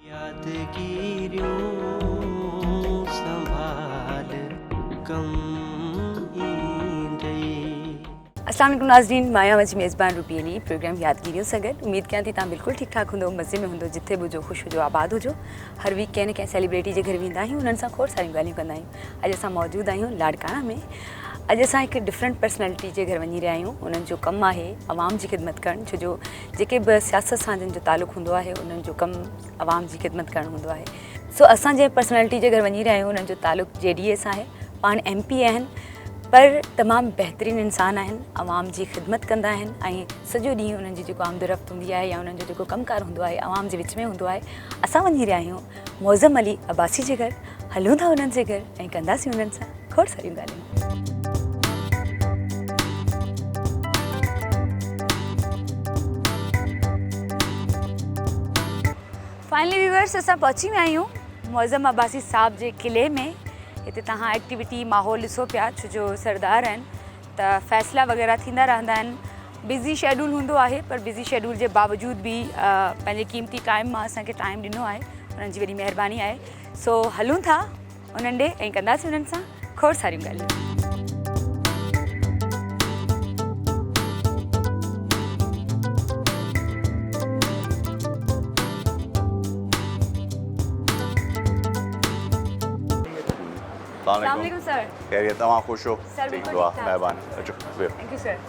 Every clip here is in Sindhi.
يادگيريون سنڀال ڪم ايندئي. السلام عليڪم ناظرين مان آهيان اوهان جي ميزبان روبي علي پروگرام يادگيريون سان گڏ اميد ڪيان ٿي تهان بلڪل ٺيڪ ٺاڪ هوندو مزي ۾ هوندو جٿي به هجو خوش هجو آباد هجو هر ويڪ ڪنهن نه ڪنهن سيليبريٽي جي گهر ويندا آهيون انهن سان کوڙ ساريون ڳالهيون ڪندا آهيون اڄ اسان موجود آهيون لاڙڪاڻا ۾ اڄ اسان هڪ ڊفرنٽ پرسنالٽي جي گهر وڃي رهيا آهيون انهن جو ڪم آهي عوام جي خدمت ڪرڻ ڇو جو جيڪي به سياست سان جن جو تعلق هوندو آهي انهن جو ڪم عوام جي خدمت ڪرڻ هوندو آهي سو اسان جنهن پرسنالٽي جي گهر وڃي رهيا آهيون انهن جو تعلق جي ڊي اي سان آهي پاڻ ايم پي اي آهن پر تمام بهترين انسان آهن عوام جي خدمت ڪندا آهن ۽ سڄو ڏينهن انهن جي جيڪو آمد رفت هوندي آهي يا انهن جو جيڪو ڪم ڪار هوندو آهي عوام جي وچ ۾ هوندو آهي اسان وڃي رهيا آهيون معظم علي عباسي جي گهر، هلون ٿا انهن جي گهر ۽ ڪنداسين انهن سان کوڙ ساريون ڳالهيون. فائنلي ويورس اسان پهچي ويا آهيون معظم عباسي صاحب جي قلعي ۾ هتي توهان ايڪٽيوٽي ماحول ڏسو پيا ڇو جو سردار آهن ته فيصلا وغيره ٿيندا رهندا آهن. بزي شيڊول هوندو آهي پر بزي شيڊول جي باوجود به پنهنجي قيمتي ٽائيم مان اسان کي ٽائيم ڏنو آهي انهن جي وڏي مهرباني آهي سو هلون ٿا انهن ڏي ۽ ڪنداسي انهن سان کوڙ ساريون ڳالهيون السلام علیکم سر کيريت اوهان خوش هو سر بلڪل ٺيڪ ٺاڪ مهرباني اچو بيهو ٿينڪ يو سر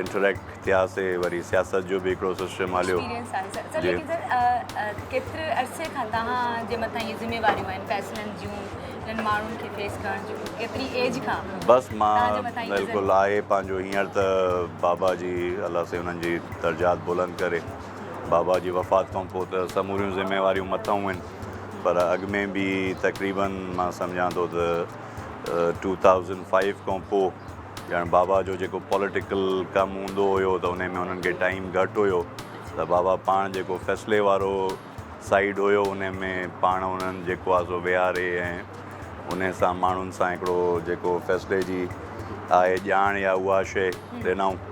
انٽريڪٽ ٿياسي وري سياست جو به هڪڙو سسٽم هليو جي ڪيتري عرصي کان توهان جي مٿان هي ذميواريون آهن فيصلن جون جن ماڻهن کي فيس ڪرڻ جون ڪيتري ايج کان بس مان بلڪل آهي پنهنجو هينئر ته بابا جي الله سائين انهن جي درجات بلند ڪري بابا جي وفات کان پوء ته سموريون ذميواريون مٿاهون آهن پر اڳ ۾ به تقريبن مان سمجهان ٿو ته ٽو ٿائوزنڊ فائيو کان پوء ڄڻ بابا جو جيڪو پوليٽيڪل ڪم هوندو هيو ته انهي ۾ هنن کي ٽائيم گهٽ هيو ته بابا پاڻ جيڪو فيصلي وارو سائيڊ هيو انهي ۾ پاڻ هنن جيڪو آهي سو ويهاري ۽ انهي سان ماڻهن سان هڪڙو جيڪو فيصلي جي آهي ڄاڻ يا اها شي ڏنائون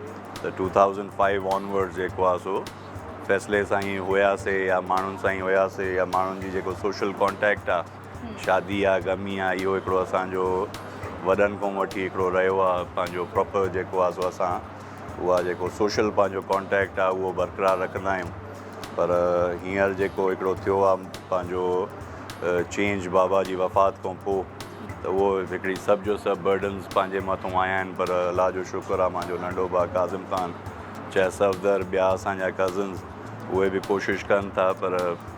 ته two thousand five onwards جيڪو آهي سو فيصلي سان ئي هياسي يا ماڻهن سان ئي هياسي يا ماڻهن جي جيڪو سوشل ڪانٽيڪٽ آهي شادي آ غمي آ اهو هڪڙو اسان جو وڏن کون وٺي هڪڙو رهيو آ پنهنجو پراپر جيڪو آ سو اسان اها جيڪو سوشل پنهنجو ڪانٽيڪٽ آ اهو برقرار رکندا آهيون پر هينئر جيڪو هڪڙو ٿيو آ پنهنجو چينج بابا جي وفات کون پو ته اهو هڪڙي سڀ جو سڀ برڊنز پنهنجي مٿون آيا آهن پر الله جو شڪر آ مانجو ننڍو ڀاء ڪاظم خان چيسفدر ٻيا اسان جا ڪزنز اهي به ڪوشش ڪن ٿا پر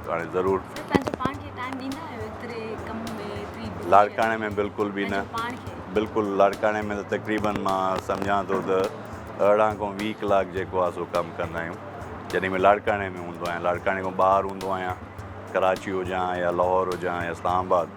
هاڻي ضرور. سر پنهنجو پاڻ کي ٽائيم ڏيندا آهيو ايتري ڪم ۾ ايتري بزي. لاڙڪاڻي ۾ بلڪل به نه. پاڻ کي. بلڪل لاڙڪاڻي ۾ ته تقريبا مان سمجهان ٿو ته ارڙهن کان ويهه ڪلاڪ جيڪو آهي سو ڪم ڪندا آهيون جڏهن ۾ لاڙڪاڻي ۾ هوندو آهيان لاڙڪاڻي کان ٻاهر هوندو آهيان ڪراچي هجان يا لاهور هجان يا اسلام آباد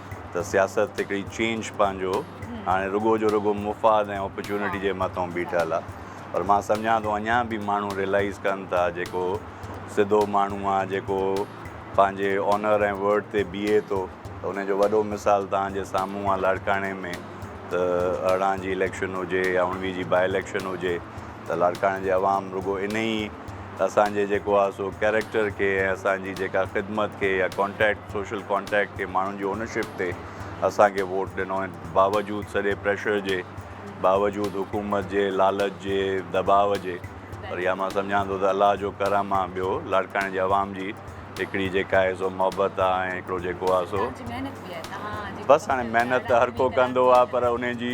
ته سياست هڪڙي چينج پنهنجو هاڻي رڳو جو رڳو مفاد ۽ اپرچونٽي جي مٿان بيٺل آ پر مان سمجهان ٿو اڃان به ماڻهو ريلائيز ڪن ٿا جيڪو سڌو ماڻهو آ جيڪو پنهنجي اونر ۽ ورڊ تي بيهي ٿو ته ان جو وڏو مثال توهان جي سامهون آ لاڙڪاڻي ۾ ته ارڙهن جي اليڪشن هجي يا اوڻويهه جي بائي اليڪشن هجي ته لاڙڪاڻي جي عوام رڳو انهي اسان جي جيڪو آهي سو ڪيريڪٽر کي ۽ اسان جي جيڪا خدمت کي يا ڪانٽيڪٽ سوشل ڪانٽيڪٽ کي ماڻهن جي اونرشپ تي اسان کي ووٽ ڏنو ۽ باوجود سڄي پريشر جي باوجود حڪومت جي لالچ جي دٻاء جي پر يا مان سمجهان ٿو ته الله جو ڪرم آهي ٻيو لاڙڪاڻي جي عوام جي هڪڙي جيڪا آهي سو محبت آهي ۽ هڪڙو جيڪو آهي سو بس هاڻي محنت ته هر ڪو ڪندو آهي پر ان جي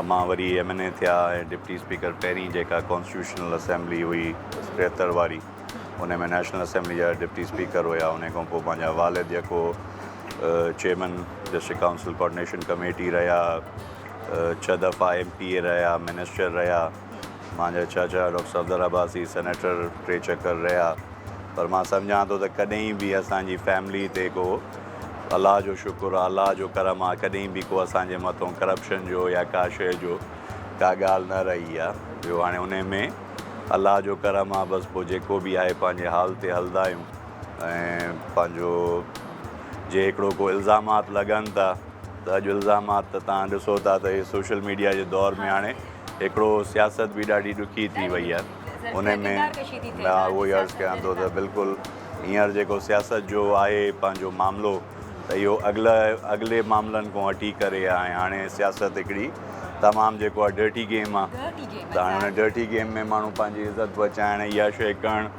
امان وري ايم اين اي ٿيا ۽ ڊپٽي اسپيڪر پهرين جيڪا ڪانسٽيٽيوشنل اسيمبلي هئي ٽيهتر واري ان ۾ نيشنل اسيمبلي جا ڊپٽي اسپيڪر هيا ان کان پوء پنهنجا والد جيڪو chairman district council coordination committee رهيا ڇهه دفعا ايم پي اي رهيا منسٽر رهيا مانجا چاچا ڊاڪٽر صفدر عباسي سينيٽر ٽي چڪر رهيا پر مان سمجهان ٿو ته ڪڏهن به اسان جي فيملي تي ڪو الله جو شڪر آ الله جو ڪرم آ ڪڏهن به ڪو اسان جي مٿون ڪرپشن جو يا ڪا شئي جو ڪا ڳالهه نه رهي آ ٻيو هاڻي انهي ۾ الله جو ڪرم آ بس پو جيڪو به آهي پنهنجي حال تي هلدا آهيون ۽ پنهنجو جي هڪڙو ڪو الزامات لڳن ٿا ته اڄ الزامات ته تان ڏسو ٿا ته هي سوشل ميڊيا جي دور ۾ هاڻي هڪڙو سياست به ڏاڍي ڏکي ٿي وئي آهي ان ۾ مان اهو ئي عرض ڪيان ٿو ته بلڪل هينئر جيڪو سياست جو آهي پنهنجو معاملو ته اهو اڳل اڳلي معاملن کان هٽي ڪري آهي هاڻي سياست هڪڙي تمام جيڪو آهي ڊرٽي گيم آهي ته هاڻي ڊرٽي گيم ۾ ماڻهو پنهنجي عزت بچائڻ يا شيء ڪرڻ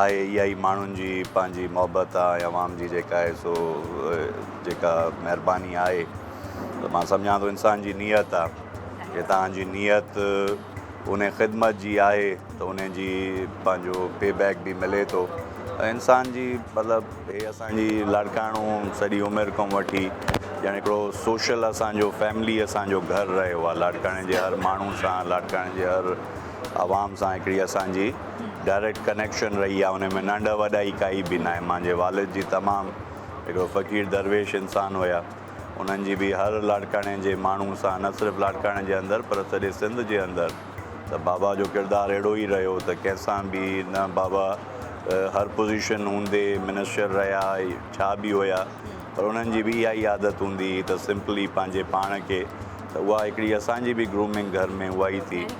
آهي اها ئي ماڻهن جي پنهنجي محبت آ ۽ عوام جي جيڪا آهي سو جيڪا مهرباني آهي ته مان سمجهان ٿو انسان جي نيت آ جي توهان جي نيت ان خدمت جي آهي ته ان جي پنهنجو پي بيڪ به ملي ٿو انسان جي مطلب هي اسان جي لاڙڪاڻو سڄي عمر کان وٺي ڄڻ هڪڙو سوشل اسان جو فيملي اسان جو گهر رهيو آ لاڙڪاڻي جي هر ماڻهو سان لاڙڪاڻي جي هر عوام سان هڪڙي اسان جي ڊائريڪٽ ڪنيڪشن رهي آهي ان ۾ ننڍ وڏائي ڪائي به ناهي مانجي والد جي تمام هڪڙو فقير درويش انسان هيا انهن جي به هر لاڙڪاڻي جي ماڻهو سان نه صرف لاڙڪاڻي جي اندر پر سڄي سنڌ جي اندر ته بابا جو ڪردار اهڙو ئي رهيو ته ڪنهن سان به نه بابا هر پوزيشن هوندي منسٽر رهيا ڇا به هيا پر انهن جي به اها ئي عادت هوندي هئي ته سمپلي پنهنجي پاڻ کي ته اها هڪڙي اسان جي به گرومنگ گهر ۾ اها ئي ٿي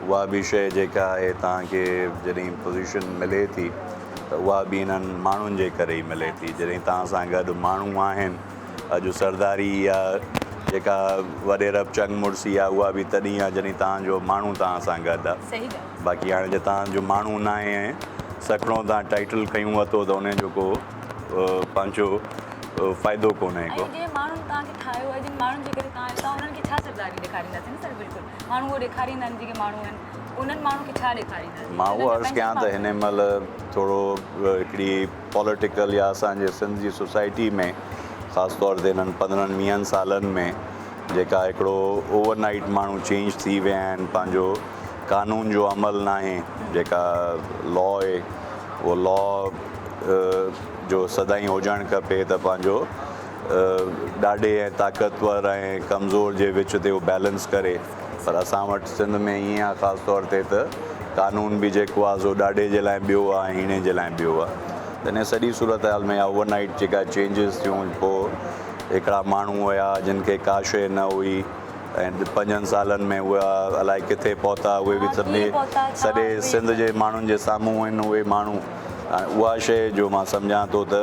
اها به شيء جيڪا آهي توهان کي جڏهن پوزيشن ملي ٿي ته اها به انهن ماڻهن جي ڪري ئي ملي ٿي جڏهن توهان سان گڏ ماڻهو آهن اڄ سرداري يا جيڪا وڏيرپ چنگ مڙسي آهي اها به تڏهن آهي جڏهن توهان جو ماڻهو توهان سان گڏ آهي باقي هاڻي جي توهان جو ماڻهو ناهي ۽ سکڻو توهان ٽائيٽل کنيون وتو ته ان جو ڪو پنهنجو فائدو ڪونهي ڪو. ماڻهو اهو ڏيکاريندا آهن جيڪي ماڻهو آهن انهن ماڻهن کي ڇا ڏيکاريندا جيڪي مان اهو عرض ڪيان ته هن مهل ٿورو هڪڙي پوليٽيڪل يا اسان جي سنڌ جي سوسائٽي ۾ خاص طور تي هنن پندرهن ويهن سالن ۾ جيڪا هڪڙو اوور نائيٽ ماڻهو چينج ٿي ويا آهن پنهنجو قانون جو عمل ناهي جيڪا لا اهي اهو لا جو سدائين هجڻ کپي ته پنهنجو ڏاڍي ۽ طاقتور ۽ ڪمزور جي وچ تي اهو بيلنس ڪري پر اسان وٽ سنڌ ۾ ائين آهي خاص طور تي ته قانون به جيڪو آهي سو ڏاڍي جي لاء ٻيو آهي ۽ هيڻي جي لاء ٻيو آهي ته انهي سڄي صورتحال ۾ اوور نائيٽ جيڪا چينجز ٿيون پوء هڪڙا ماڻهو هيا جن کي ڪا شيء نه هئي ۽ پنجن سالن ۾ اهي الائي ڪٿي پهتا اهي به سڀني سڄي سنڌ جي ماڻهن جي سامهون آهن اهي ماڻهو هاڻي اها شيء جو مان سمجهان ٿو ته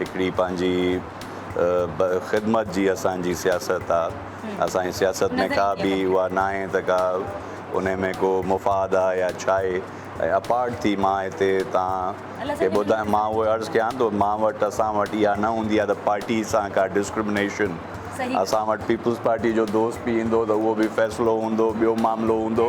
هڪڙي پنهنجي خدمت جي اسان جي سياست آ اسان جي سياست ۾ ڪا به اها ناهي ته ڪا انهي ۾ ڪو مفاد آ يا ڇاهي ۽ اپارٽ ٿي مان هتي تان کي ٻڌايان مان اهو عرض ڪيان ٿو مان وٽ اسان وٽ اها نه هوندي آ ته پارٽي سان ڪا ڊسڪرمنيشن اسان وٽ پيپلز پارٽي جو دوست به ايندو ته اهو به فيصلو هوندو ٻيو معاملو هوندو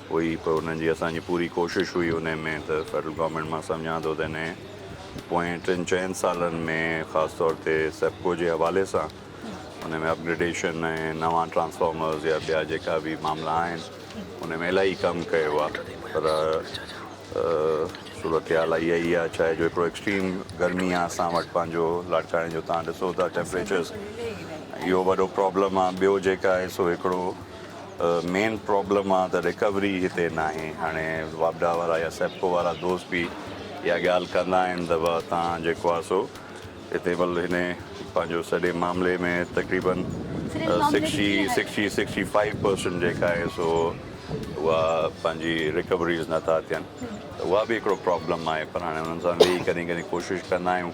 هئي پر انهن جي اسان جي پوري ڪوشش هئي انهي ۾ ته فيڊرل گورنمينٽ مان سمجهان ٿو ته انهي پوئين ٽن چئن سالن ۾ خاص طور تي سيپڪو جي حوالي سان انهي ۾ اپگريڊيشن ۽ نوان ٽرانسفارمرز يا ٻيا جيڪا به معاملا آهن انهي ۾ الاهي ڪم ڪيو آهي پر صورتحال اها ئي آهي ڇا آهي جو هڪڙو ايڪسٽريم گرمي آهي اسان وٽ پنهنجو لاڙڪاڻي جو توهان ڏسو ٿا ٽيمپريچرز اهو وڏو پرابلم آهي ٻيو جيڪا آهي سو هڪڙو مين پرابلم آ ته ريڪوري هتي ناهي هاڻي واپڊا وارا يا سيپڪو وارا دوست به اها ڳالهه ڪندا آهن ته واه تان جيڪو آ سو هتي بل هن پنهنجو سڄي معاملي ۾ تقريبا sixty sixty sixty five percent جيڪا آهي سو اها پنهنجي ريڪوريز نٿا ٿين ته اها به هڪڙو پرابلم آهي پر هاڻي انهن سان ويهي ڪڏهن ڪڏهن ڪوشش ڪندا آهيون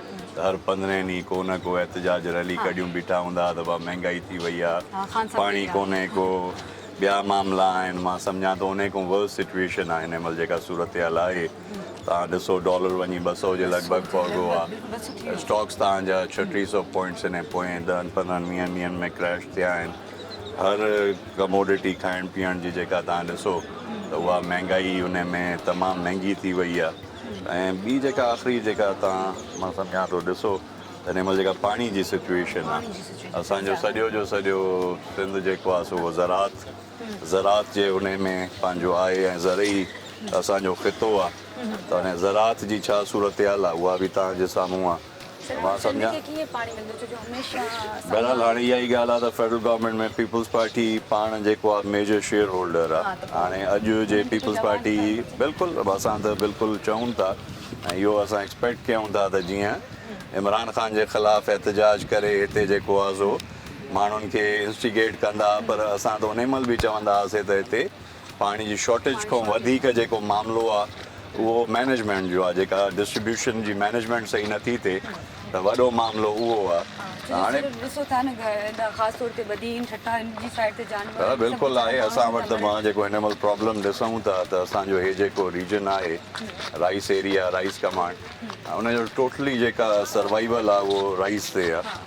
ته هر پندرهين ڏينهن ڪو نه ڪو احتجاج ريلي ڪڍيون بيٺا هوندا ها ته ڀا مهنگائي ٿي وئي آ پاڻي ڪونهي ڪو ٻيا معاملا آهن مان سمجهان ٿو انهي کان ورس سچوئيشن آ هن مهل جيڪا صورتحال آهي توهان ڏسو ڊالر وڃي ٻه سئو جي لڳ ڀڳ پهگو آ اسٽاڪس توهان جا ڇهه ٽي سئو پوائنٽس انهي پوئين ڏهن پندرهن ويهن ڏينهن ۾ ڪريش ٿيا آهن هر ڪموڊٽي کائڻ پيئڻ جي جيڪا توهان ڏسو ته اها مهنگائي انهي ۾ تمام مهنگي ٿي وئي آ. ۽ ٻي جيڪا آخري جيڪا تان مان سمجهان ٿو ڏسو ته هن مهل جيڪا پاڻي جي سچويشن آ اسان جو سڄو جو سڄو سنڌ جيڪو آ سو زراعت زراعت جي انهي ۾ پنهنجو آهي ۽ زرعي اسان جو خطو آ ته هن زراعت جي ڇا صورتحال آ اها به تان جي سامهون آ. بهرحال هاڻي اها ئي ڳالهه آهي ته فيڊرل گورنمينٽ ۾ پيپلز پارٽي پاڻ جيڪو آهي ميجر شيئر هولڊر آهي هاڻي اڄ جي پيپلز پارٽي بلڪل اسان ته بلڪل چئون ٿا ۽ اهو اسان ايڪسپيڪٽ ڪيون ٿا ته جيئن عمران خان جي خلاف احتجاج ڪري هتي جيڪو آهي سو ماڻهن کي انسٽيگيٽ ڪندا پر اسان ته انهي مهل به چوندا هئاسي ته هتي پاڻي جي شارٽيج کان وڌيڪ جيڪو معاملو آ اهو مينيجمينٽ جو آ جيڪا ڊسٽريبيوشن جي مينيجمينٽ صحيح نٿي ٿئي ته وڏو معاملو اهو آ ته هاڻي بلڪل آهي اسان وٽ ته مان جيڪو هن مهل پرابلم ڏسون ٿا ته اسان جو هي جيڪو ريجن آهي رائيس ايريا رائيس ڪمانڊ ان جو ٽوٽلي جيڪا سروائيول آ اهو رائيس تي آ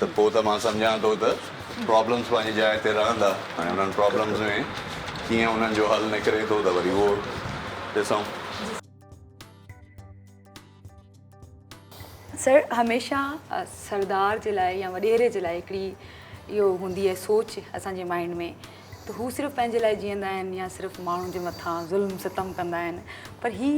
ته پوء ته مان سمجهان ٿو ته پرابلمز پنهنجي جاء تي رهندا هاڻي انهن پرابلمز ۾ ڪيئن انهن جو حل نڪري ٿو ته وري اهو ڏسون. سر هميشه سردار جي لاء يا وڏيري جي لاء هڪڙي اهو هوندي آهي سوچ اسان جي مائنڊ ۾ ته هو صرف پنهنجي لاء جيئندا آهن يا صرف ماڻهن جي مٿان ظلم ستم ڪندا آهن پر هي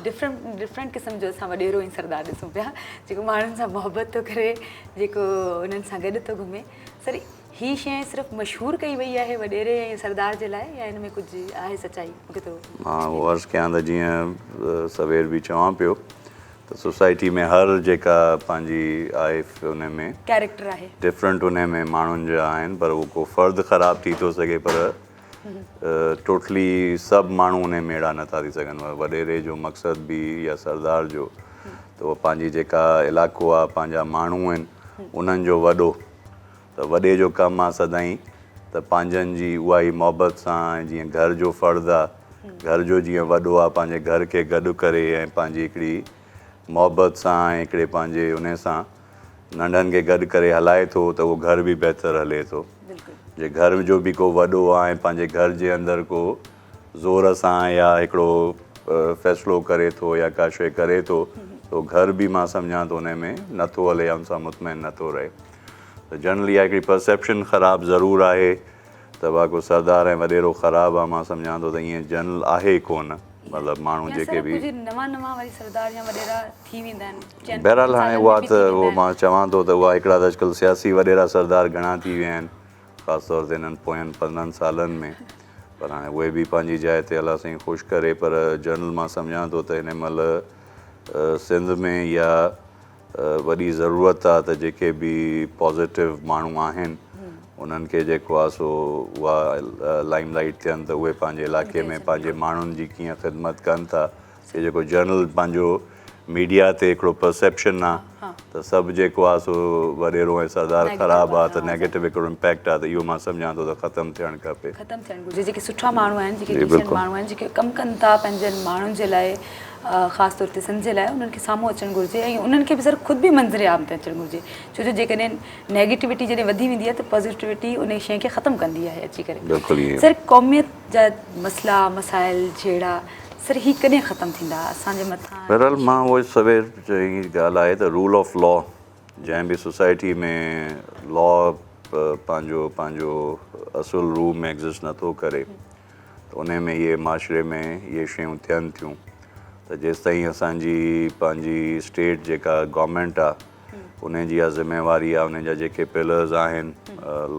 ڊفرنٽ ڊفرنٽ قسم جو اسان وڏيرو ۽ سردار ڏسون پيا جيڪو ماڻهن سان محبت ٿو ڪري جيڪو انهن سان گڏ ٿو گهمي سر هي شي صرف مشهور ڪئي وئي آهي وڏيري ۽ سردار جي لاء يا ان ۾ ڪجهه آهي سچائي مون کي ٿورو مان عرض ڪيان ته جيئن سوير به چوان پيو ته سوسائٽي ۾ هر جيڪا پنهنجي آهي ان ۾ ڪيريڪٽر آهي ڊفرنٽ ان ۾ ماڻهن جا آهن پر هو ڪو فرد خراب ٿي ٿو سگهي پر ٽوٽلي سڀ ماڻهو ان ۾ اهڙا نٿا ٿي سگهن وڏيري جو مقصد به يا سردار جو ته هو پنهنجي جيڪا علائقو آهي پنهنجا ماڻهو آهن انهن جو وڏو ته وڏي جو ڪم آ سدائين ته پنهنجن جي اها ئي محبت سان ۽ جيئن گهر جو فرد آ گهر جو جيئن وڏو آ پنهنجي گهر کي گڏ ڪري ۽ پنهنجي هڪڙي محبت سان ۽ هڪڙي پنهنجي انهي سان ننڍن کي گڏ ڪري هلائي ٿو ته اهو گهر به بهتر هلي ٿو جي گهر جو به ڪو وڏو آ ۽ پنهنجي گهر جي اندر ڪو زور سان يا هڪڙو فيصلو ڪري ٿو يا ڪا شئي ڪري ٿو ته اهو گهر به مان سمجهان ٿو انهي ۾ نه ٿو هلي يا ان سان مطمئن نه ٿو رهي. ته جنرلي اها هڪڙي پرسيپشن خراب ضرور آهي ته واگو سردار ۽ وڏيرو خراب آهي مان سمجهان ٿو ته ايئن جنرل آهي ڪونه مطلب ماڻهو جيڪي به بهرحال هاڻي اها ته اهو مان چوان ٿو ته اها هڪڙا ته اڄڪلهه سياسي وڏيرا سردار گهڻا ٿي ويا آهن خاص طور تي هنن پوين پندرهن سالن ۾ پر هاڻي اهي به پنهنجي جاء تي الله سائين خوش ڪري پر جنرل مان سمجهان ٿو ته هن مهل سنڌ ۾ يا وڏي ضرورت آ ته جيڪي به پازيٽو ماڻهو آهن انهن کي جيڪو آ سو اها لائيم لائيٽ ٿين ته اهي پنهنجي علائقي ۾ پنهنجي ماڻهن جي ڪيئن خدمت ڪن ٿا هي جيڪو جنرل پنهنجو ميڊيا تي هڪڙو پرسيپشن آ ته سڀ جيڪو آ سو وڏيرو ۽ سردار خراب آ ته نيگيٽو هڪڙو امپيڪٽ آ ته اهو مان سمجهان ٿو ته ختم ٿيڻ کپي ختم ٿيڻ گهرجي جيڪي سٺا ماڻهو آهن جيڪي ڊيسنٽ ماڻهو آهن جيڪي ڪم ڪن ٿا پنهنجن ماڻهن جي لاء خاص طور تي سنڌ جي لاء انهن کي سامهون اچڻ گهرجي ۽ انهن کي به سر خود به منظر عام تي اچڻ گهرجي ڇو جو جيڪڏهن نيگيٽوٽي جڏهن وڌي ويندي آهي ته پازيٽوٽي انهي شيء کي ختم ڪندي آهي اچي ڪري سر قوميت جا مسئلا مسائل جهيڙا سر هي ڪڏهن ختم ٿيندا اسان جي مٿان بهرحال مان اهو سوير چئي ڳالهه آهي ته رول آف لا جنهن به سوسائٽي ۾ لا پنهنجو پنهنجو اصل روح ۾ ايگزسٽ نٿو ڪري ته انهي ۾ اهي معاشري ۾ اهي شيون ٿين ٿيون ته جيستائين اسان جي پنهنجي اسٽيٽ جيڪا گورمينٽ آ انهي جي اها ذميواري آ انهي جا جيڪي پلرز آهن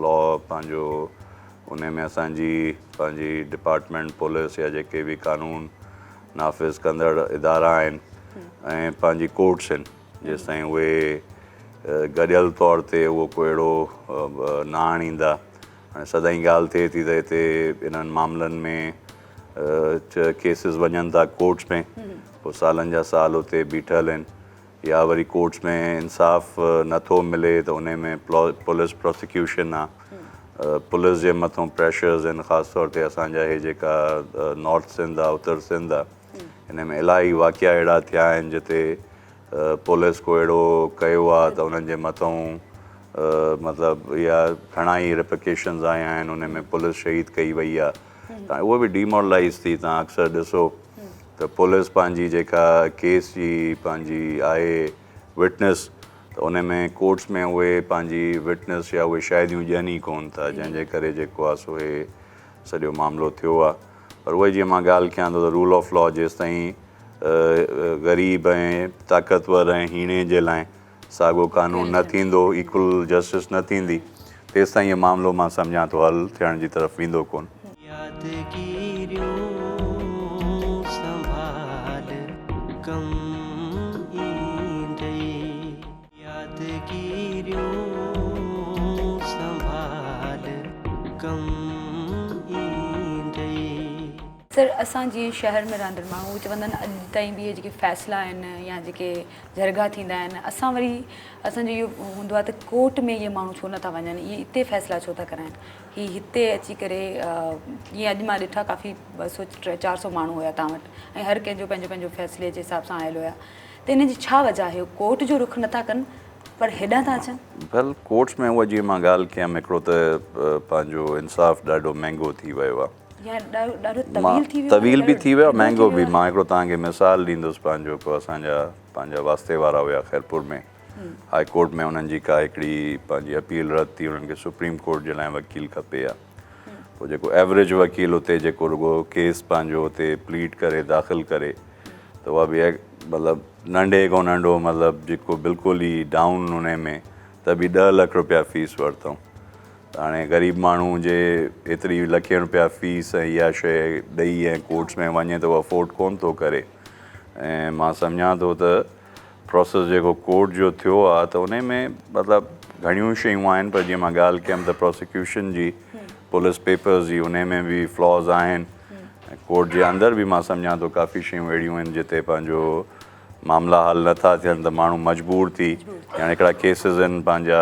لا پنهنجو انهي ۾ اسان جي پنهنجي ڊپارٽمينٽ پوليس يا جيڪي به قانون نافذ ڪندڙ ادارا آهن ۽ پنهنجي ڪورٽس آهن جيستائين اهي گڏيل طور تي اهو ڪو اهڙو نه آڻيندا سدائين ڳالهه ٿئي ٿي ته هتي انهن معاملن ۾ ڪيسز وڃن ٿا ڪورٽس ۾ پوء سالن جا سال اتي بيٺل آهن يا وري ڪورٽس ۾ انصاف نه ٿو ملي ته ان ۾ پوليس پروسيڪيوشن آهي پوليس جي مٿان پريشرز آهن خاص طور تي اسانجا هي جيڪا نارٿ سنڌ آهي اتر سنڌ آهي ان ۾ الاهي واقعا اهڙا ٿيا آهن جتي پوليس ڪو اهڙو ڪيو آ ته انهن جي مٿئون مطلب اها گهڻا ئي رپيڪيشنز آيا آهن انهن ۾ پوليس شهيد ڪئي وئي آ ته اهو به ڊيمورلائيز ٿي تان اڪثر ڏسو ته پوليس پنهنجي جيڪا ڪيس جي پنهنجي آهي وٽنس ته انهن ۾ ڪورٽس ۾ اهي پنهنجي وٽنس يا اهي شاهديون ڏين ئي ڪون ٿا جنهن جي ڪري جيڪو آ سو هي سڄو معاملو ٿيو آ. پر اهي جيئن مان ڳالهه ڪيان ٿو ته رول آف لا جيستائين غريب ۽ طاقتور ۽ هيڻي جي لاء ساڳو قانون نه ٿيندو ايڪول جسٽس نه ٿيندي تيستائين هي معاملو مان سمجهان ٿو حل ٿيڻ جي طرف ويندو ڪون. يادگيريون سنڀال ڪم ايندئي. سر اسان جيئن شهر ۾ رهندڙ ماڻهو اهي چوندا آهن اڄ تائين به اهي جيڪي فيصلا آهن يا جيڪي جرڳا ٿيندا آهن اسان وري اسان جو اهو هوندو آهي ته ڪورٽ ۾ اهي ماڻهو ڇو نٿا وڃن اهي اتي فيصلا ڇو ٿا ڪرائين هي هتي اچي ڪري جيئن اڄ مان ڏٺا ڪافي ٻه سؤ ٽي چار سؤ ماڻهو هيا تان وٽ ۽ هر ڪنهن جو پنهنجو پنهنجو فيصلي جي حساب سان آيل هيا ته انهن جي ڇا وجهه آهي؟ هو ڪورٽ جو رخ نٿا ڪن پر هيڏانهن ٿا اچن؟ ڀل ڪورٽس ۾ اها جيئن مان ڳالهه ڪيم هڪڙو ته پنهنجو انصاف ڏاڍو مهنگو ٿي ويو آهي. يعني ڏاڍو طويل ٿي ويو آهي. طويل به ٿي ويو آهي مهنگو به. مان هڪڙو توهان کي مثال ڏيندس پنهنجو ڪو اسان جا پنهنجا واسطي وارا هيا خيرپور ۾ هاء ڪورٽ ۾ انهن جي ڪا هڪڙي پنهنجي اپيل رد ٿي انهن کي سپريم ڪورٽ جي لاء وڪيل کپي ها. پوء جيڪو ايوريج وڪيل اتي جيڪو رڳو ڪيس پنهنجو اتي پليڊ ڪري داخل ڪري ته اها به مطلب ننڍي کان ننڍو مطلب جيڪو بلڪل ئي ڊائون ان ۾ ته به ڏهه لک روپيا فيس ورتائون ته هاڻي غريب ماڻهو جي ايتري لکين روپيا فيس ۽ اها شي ڏئي ۽ ڪورٽس ۾ وڃي ته اهو افورڊ ڪونه ٿو ڪري ۽ مان سمجهان ٿو ته پروسيس جيڪو ڪورٽ جو ٿيو آ ته انهي ۾ مطلب گهڻيون شيون آهن پر جيئن مان ڳالهه ڪيم ته پراسيڪيوشن جي پوليس پيپرز جي انهي ۾ به فلاز آهن ۽ ڪورٽ جي اندر به مان سمجهان ٿو ڪافي شيون اهڙيون آهن جتي پنهنجو معاملا حل نه ٿا ٿين ته ماڻهو مجبور ٿي ڄڻ هڪڙا ڪيسز آهن پنهنجا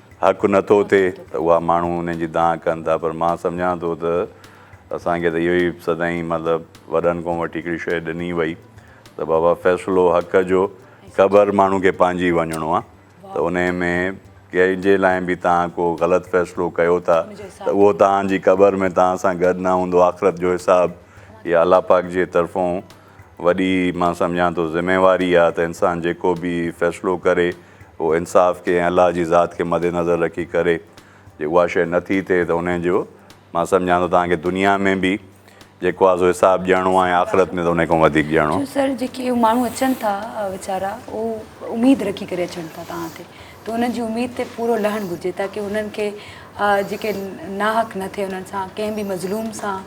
حق نه ٿو ٿئي ته اها ماڻهو انهن جي دانهن ڪن ٿا پر مان سمجهان ٿو ته اسان کي ته اهو ئي سدائين مطلب وڏن کان وٺي هڪڙي شيء ڏني وئي ته بابا فيصلو حق جو قبر ماڻهو کي پنهنجي وڃڻو آهي ته انهي ۾ ڪنهن جي لاء به توهان ڪو غلط فيصلو ڪيو ٿا ته اهو توهان جي قبر ۾ توهان سان گڏ نه هوندو آخرت جو حساب اها الله پاڪ جي طرفون وڏي مان سمجهان ٿو ذميواري آهي ته انسان جيڪو به فيصلو ڪري اهو انصاف کي ۽ الله جي ذات کي مد نظر رکي ڪري جي اها شيء نه ٿي ٿئي ته ان جو مان سمجهان ٿو توهان کي دنيا ۾ به جيڪو آهي سو حساب ڏيڻو آهي ۽ آخرت ۾ ته ان کان وڌيڪ ڏيڻو. جو سر جيڪي ماڻهو اچن ٿا ويچارا اهو اميد رکي ڪري اچن ٿا توهان تي ته انهن جي اميد تي پورو لهڻ گهرجي تاڪه انهن کي جيڪي ناحق نه ٿئي انهن سان ڪنهن به مظلوم سان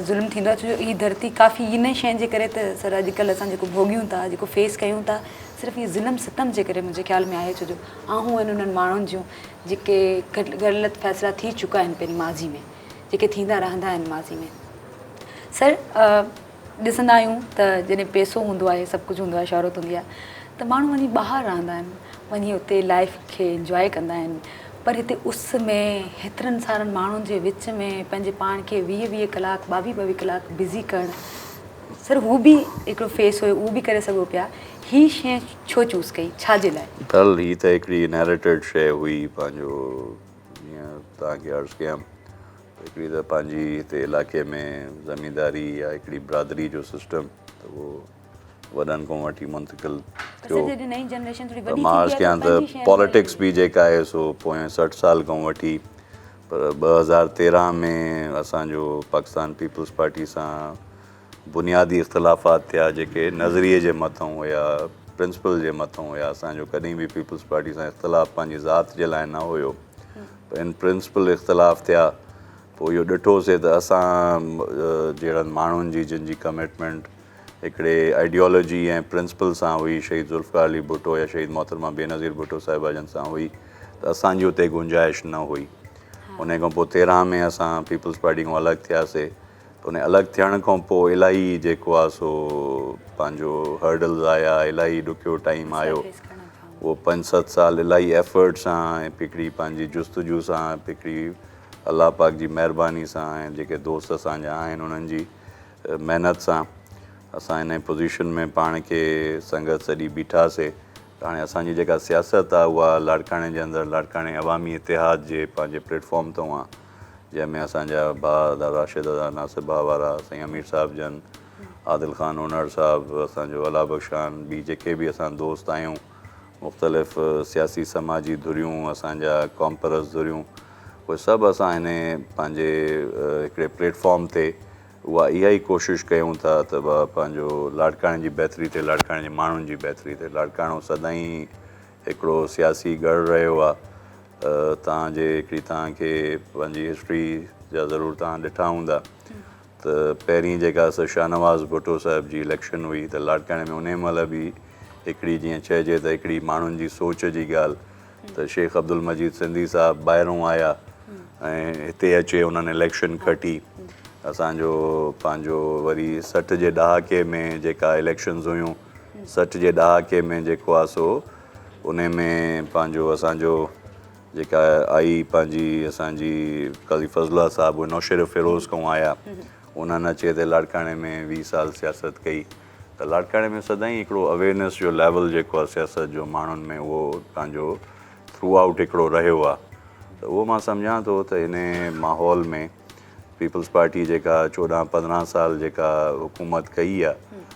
ظلم ٿيندو آهي ڇو جو هي ڌرتي ڪافي انهي شين جي ڪري ته سر اڄڪلهه اسان جيڪو ڀوڳيون ٿا جيڪو فيس ڪيون ٿا صرف هي ظلم ستم جي ڪري منهنجي خيال ۾ آهي ڇو جو آهون آهن انهن ماڻهن جون جيڪي غلط فيصلا ٿي چڪا آهن پنهنجي ماضي ۾ جيڪي ٿيندا رهندا آهن ماضي ۾ سر ڏسندا آهيون ته جڏهن پيسو هوندو آهي سڀ ڪجهه هوندو آهي شهرت هوندي آهي ته ماڻهو وڃي ٻاهر رهندا آهن وڃي اتي لائيف کي انجواء ڪندا آهن پر هتي اس ۾ هيترن سارن ماڻهن جي وچ ۾ پنهنجي پاڻ کي ويهه ويهه ڪلاڪ ٻاويهه ٻاويهه ڪلاڪ بزي ڪرڻ سر هو به هڪڙو فيس هيو اهو به ڪري سگهو پيا هي شي ڇو چوز ڪئي ڇا جي لاء؟ ڊل هي ته هڪڙي انهيرٽيڊ شي هئي پنهنجو جيئن توهان کي عرض ڪيم هڪڙي ته پنهنجي هتي علائقي ۾ زمينداري يا هڪڙي برادري جو سسٽم ته اهو وڏن کان وٺي منتقل ٿيو ته مان عرض ڪيان ته پاليٽڪس به جيڪا آهي سو پوئين سٺ سال کان وٺي پر ٻه هزار تيرهن ۾ اسان جو پاڪستان پيپلز پارٽي سان بنيادي اختلافات ٿيا جيڪي نظريي جي مٿئون هيا، پرنسپل جي مٿئون هيا، اسان جو ڪڏهن به پيپلز پارٽي سان اختلاف پنهنجي ذات جي لاء نه هيو پر ان پرنسپل اختلاف ٿيا پوء اهو ڏٺو سي ته اسان جهڙن ماڻهن جي جن جي ڪمٽمينٽ هڪڙي آئيڊيالوجي ۽ پرنسپل سان هئي شهيد ذوالفقار علي ڀٽو يا شهيد محترمه بينظير ڀٽو صاحبه جن سان هئي ته اسان جي اتي گنجائش نه هئي انهي کان پوء تيرهن ۾ اسان پيپلز پارٽي کان الڳ ٿيا سي ان الڳ ٿيڻ کان پوء الاهي جيڪو آهي سو پنهنجو هرڊلز آيا، الاهي ڏکيو ٽائيم آيو. اهو پنج ست سال الاهي ايفرٽ سان ۽ هڪڙي پنهنجي جستجو سان هڪڙي الله پاڪ جي مهرباني سان ۽ جيڪي دوست اسان جا آهن انهن جي محنت سان اسان انهي پوزيشن ۾ پاڻ کي سنگت سڏي بيٺا سي ته هاڻي اسان جي جيڪا سياست آهي اها لاڙڪاڻي جي اندر لاڙڪاڻي عوامي اتحاد جي پنهنجي پليٽ فارم تان جنهن ۾ اسان جا ڀاء ادا راشد، ادا ناصر ڀاء وارا، سائين امير صاحب جن، عادل خان اونهڙ صاحب، اسان جو الله بخش خان، ٻي جيڪي به اسان دوست آهيون، مختلف سياسي سماجي ڌريون، اسان جا قومپرست ڌريون، اهي سڀ اسان هن پنهنجي هڪڙي پليٽ فارم تي اها اها ئي ڪوشش ڪيون ٿا ته پنهنجو لاڙڪاڻي جي بهتري ٿئي، لاڙڪاڻي جي ماڻهن جي بهتري ٿئي، لاڙڪاڻو سدائين هڪڙو سياسي ڳڙهه رهيو آ تان جي هڪڙي تان کي پنهنجي هسٽري جا ضرور تان ڏٺا هوندا ته پهرين جيڪا سا شاهنواز ڀٽو صاحب جي اليڪشن هئي ته لاڙڪاڻي ۾ انهي مهل به هڪڙي جيئن چئجي ته هڪڙي ماڻهن جي سوچ جي ڳالهه ته شيخ عبدالمجيد سنڌي صاحب ٻاهرون آيا ۽ هتي اچي انهن اليڪشن کٽي اسان جو پنهنجو وري سٺ جي ڏهاڪي ۾ جيڪا اليڪشنز هيون سٺ جي ڏهاڪي ۾ جيڪو آ سو انهي ۾ پنهنجو اسان جو جيڪا آئي پنهنجي اسان جي قاضي فضل الله صاحب نوشهرو فيروز کان آيا انهن اچي هتي لاڙڪاڻي ۾ ويهه سال سياست ڪئي ته لاڙڪاڻي ۾ سدائين هڪڙو اويرنيس جو ليول جيڪو آ سياست جو ماڻهن ۾ اهو پنهنجو ٿرو آئوٽ هڪڙو رهيو آ ته اهو مان سمجهان ٿو ته انهي ماحول ۾ پيپلز پارٽي جيڪا چوڏهن پندرهن سال جيڪا حڪومت ڪئي آ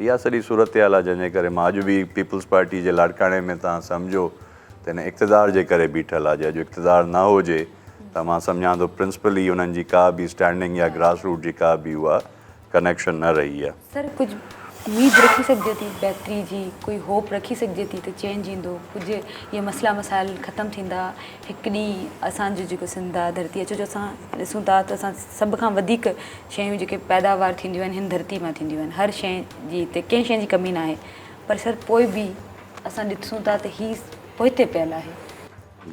اها سڄي صورتحال آهي جنهن جي ڪري مان اڄ به پيپلز پارٽي جي لاڙڪاڻي ۾ توهان سمجهو ته هن اقتدار جي ڪري بيٺل آهي جي اڄ اقتدار نه هجي ته مان سمجهان ٿو پرنسپلي انهن جي ڪا به اسٽينڊنگ يا گراس روٽ جي ڪا به اها ڪنيڪشن نه رهي آهي. سر ڪجهه اميد رکي سگهجي ٿي بهتري جي ڪوئي هوپ رکي سگهجي ٿي ته چينج ايندو ڪجهه اهي مسئلا مسائل ختم ٿيندا هڪ ڏينهن اسان جو جيڪو سنڌ آهي ڌرتي اچو جو اسان ڏسون ٿا ته اسان سڀ کان وڌيڪ شيون جيڪي پيداوار ٿينديون آهن هن ڌرتي مان ٿينديون آهن هر شيء جي هتي ڪنهن شيء جي ڪمي ناهي پر سر پوء به اسان ڏسون ٿا ته هي پوئتي پيل آهي.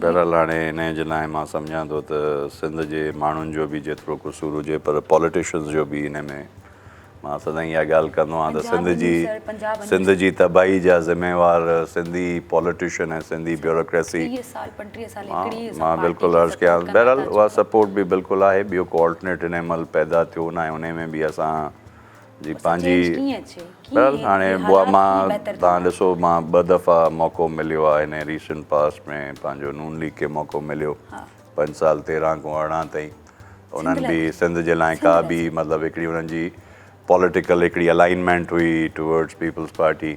بهرحال هاڻي انهيء جي لاء مان سمجهان ٿو ته سنڌ جي ماڻهن جو به جيترو قصور هجي پر پاليٽيشنز جو به انهيء ۾ مان سدائين اها ڳالهه ڪندو آهيان ته سنڌ جي سنڌ جي تباهي جا ذميوار سنڌي پوليٽيشن ۽ سنڌي بيوروڪريسي مان بلڪل عرض ڪيانس بهرحال اها سپورٽ به بلڪل آهي ٻيو ڪو آلٽرنيٽ هن مهل پيدا ٿيو ناهي انهي ۾ به اسان جي پنهنجي بهرحال هاڻي اها مان تان ڏسو مان ٻه دفعا موقعو مليو آهي هن ريسنٽ پاسٽ ۾ پنهنجو نون ليگ کي موقعو مليو پنج سال تيرهن کان ارڙهن تائين انهن به سنڌ جي لاء ڪا به مطلب هڪڙي انهن جي پوليٽيڪل هڪڙي الائنمينٽ هئي ٽوورڊز پيپلز پارٽي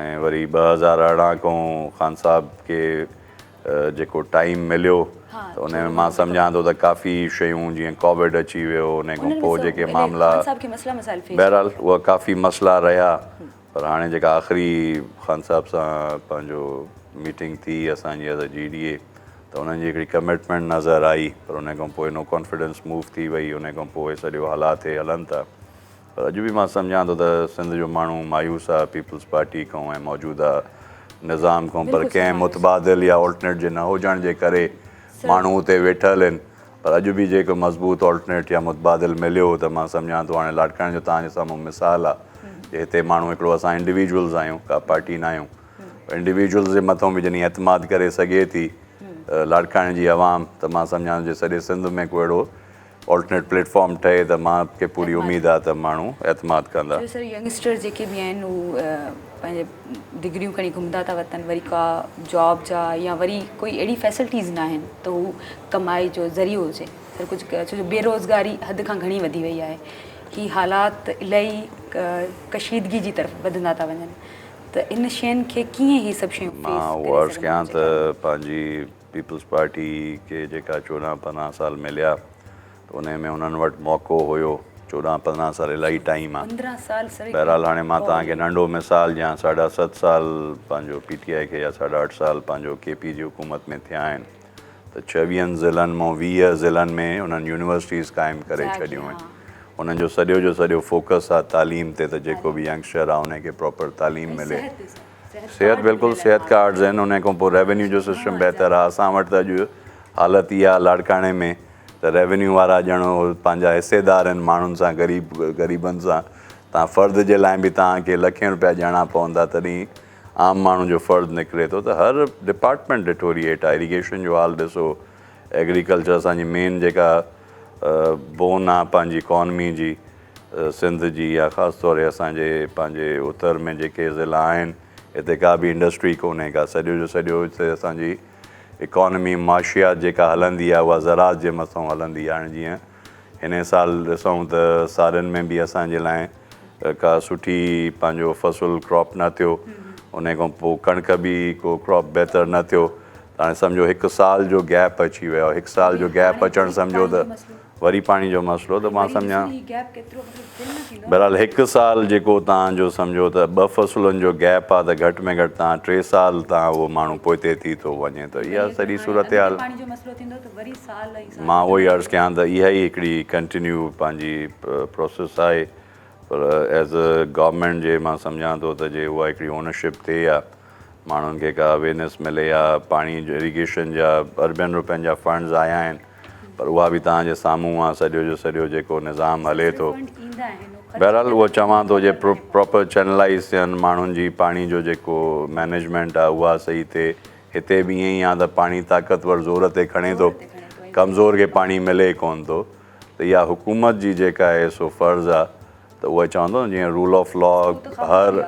۽ وري ٻه هزار ارڙهن کان خان صاحب کي جيڪو ٽائيم مليو ته ان ۾ مان سمجهان ٿو ته ڪافي شيون جيئن ڪووڊ اچي ويو ان کان پوء جيڪي معاملا بهرحال اهو ڪافي مسئلا رهيا پر هاڻي جيڪا آخري خان صاحب سان پنهنجو ميٽنگ ٿي اسان جي ايز جي ڊي اي ته انهن جي هڪڙي ڪمٽمينٽ نظر آئي پر انهي کان پوء نو ڪانفيڊنس موو ٿي وئي انهي کان پوء سڄو حالات هي هلن ٿا پر اڄ به مان سمجهان ٿو ته سنڌ جو ماڻهو مايوس آهي پيپلز پارٽي کان ۽ موجوده نظام کان پر ڪنهن متبادل يا الٽرنيٽ جي نه هجڻ جي ڪري ماڻهو اتي ويٺل هين پر اڄ به جيڪو مضبوط آلٽرنيٽ يا متبادل مليو ته مان سمجهان ٿو هاڻي لاڙڪاڻي جو توهان جي سامهون مثال آ جي هتي ماڻهو هڪڙو اسان انڊيويجولز آهيون ڪا پارٽي ناهيون انڊيويجولز جي مٿو به جڏهن اعتماد ڪري سگهي ٿي لاڙڪاڻي جي عوام ته مان سمجهان ٿو جي سڄي سنڌ ۾ ڪو اهڙو آلٽرنيٽ پليٽ فارم ٺهي ته مان کي پوري اميد آ ته ماڻهو اعتماد ڪندا. پنهنجي ڊگريون کڻي گهمندا ٿا وتن وري ڪا جاب جا يا وري ڪوئي اهڙي فيسلٽيز ناهن ته هو ڪمائي جو ذريعو هجي سر ڪجهه ڪيو ڇو جو بيروزگاري حد کان گهڻي وڌي وئي آهي هي حالات الائي ڪشيدگي جي طرف وڌندا ٿا وڃن ته ان شين کي ڪيئن هي سڀ شيون فيس ڪري سگهندو مان اهو عرض ڪيان ته پنهنجي پيپلز پارٽي کي جيڪا چوڏهن پندرهن سال مليا ته انهي ۾ انهن وٽ موقعو هيو، چوڏهن پندرهن سال الاهي ٽائيم آ. بهرحال هاڻي مان توهان کي ننڍو مثال ڏيان ساڍا ست سال پنهنجو پي ٽي آء کي يا ساڍا اٺ سال پنهنجو ڪي پي جي حڪومت ۾ ٿيا آهن ته ڇويهن ضلعن مون ويهه ضلعن ۾ انهن يونيورسٽيز قائم ڪري ڇڏيون آهن انهن جو سڄو جو سڄو فوڪس آ تعليم تي ته جيڪو به ينگسٽر آ انهي کي پراپر تعليم ملي. صحت بلڪل صحت ڪارڊز آهن انهي کان پوء ريونيو جو سسٽم بهتر آهي اسان وٽ ته اڄ حالت اها آهي لاڙڪاڻي ۾ ته ريونيو وارا ڄڻ اهي پنهنجا حصيدار آهن ماڻهن سان غريب غريبن سان تان فرد جي لاء به تان کي لکين روپيا ڏيڻا پوندا تڏهين عام ماڻهو جو فرد نڪري ٿو ته هر ڊپارٽمينٽ ڏٺو ري هيٺ ايريگيشن جو حال ڏسو ايگريڪلچر اسان جي مين جيڪا بون آهي پنهنجي اڪانمي جي سنڌ جي يا خاص طور هي اسان جي پنهنجي اتر ۾ جيڪي ضلعا آهن هتي ڪا به انڊسٽري ڪونهي ڪا سڄو جو سڄو هتي اسان جي اڪانمي معاشيات جيڪا هلندي آهي اها زراعت جي مٿان هلندي آهي هاڻي جيئن هن سال ڏسون ته سارن ۾ به اسان جي لاء ڪا سٺي پنهنجو فصل ڪراپ نه ٿيو ان کان پوء ڪڻڪ به ڪو ڪراپ بهتر نه ٿيو هاڻي سمجهو هڪ سال جو گيپ اچي ويو هڪ سال جو گيپ اچڻ سمجهو ته وري پاڻي جو مسئلو ته مان سمجهان بهرحال هڪ سال جيڪو تان جو سمجهو ته ٻه فصلن جو گيپ آ ته گهٽ ۾ گهٽ تان ٽي سال تان اهو ماڻهو پوئتي ٿي ٿو وڃي ته اها سڄي صورتحال مان اهو ئي عرض ڪيان ته اها ئي هڪڙي ڪنٽينيو پنهنجي پروسيس آهي پر ايز اي گورنمينٽ جي مان سمجهان ٿو ته جي اها هڪڙي اونرشپ ٿئي يا ماڻهن کي ڪا اويرنيس ملي يا پاڻي جو اريگيشن جا اربين روپين جا فنڊز آيا آهن پر اها به توهان جي سامهون آ سڄو جو سڄو جيڪو نظام هلي ٿو بهرحال اهو چوان ٿو جي پراپر چينلائيز ٿين ماڻهن جي پاڻي جو جيڪو مينيجمينٽ آ اها صحيح ٿئي هتي به ائين ئي آ ته پاڻي طاقتور زور تي کڻي ٿو ڪمزور کي پاڻي ملي ئي ڪون ٿو ته اها حڪومت جي جيڪا آهي سو فرض آ ته اهو چوان ٿو جيئن رول آف لا هر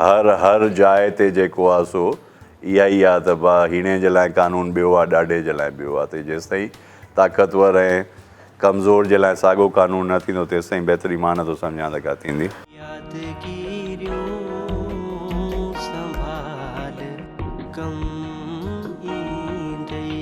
هر هر جاء تي جيڪو آ سو اها ئي آ ته ڀا هيڻي جي لاء قانون ٻيو آ ڏاڍي جي لاء ٻيو آ ته جيستائين طاقتور ۽ ڪمزور جي لاء ساڳو قانون نه ٿيندو تيستائين بهتري مان نٿو سمجهان ته ڪا ٿيندي. يادگيريون سنڀال ڪم ايندئي.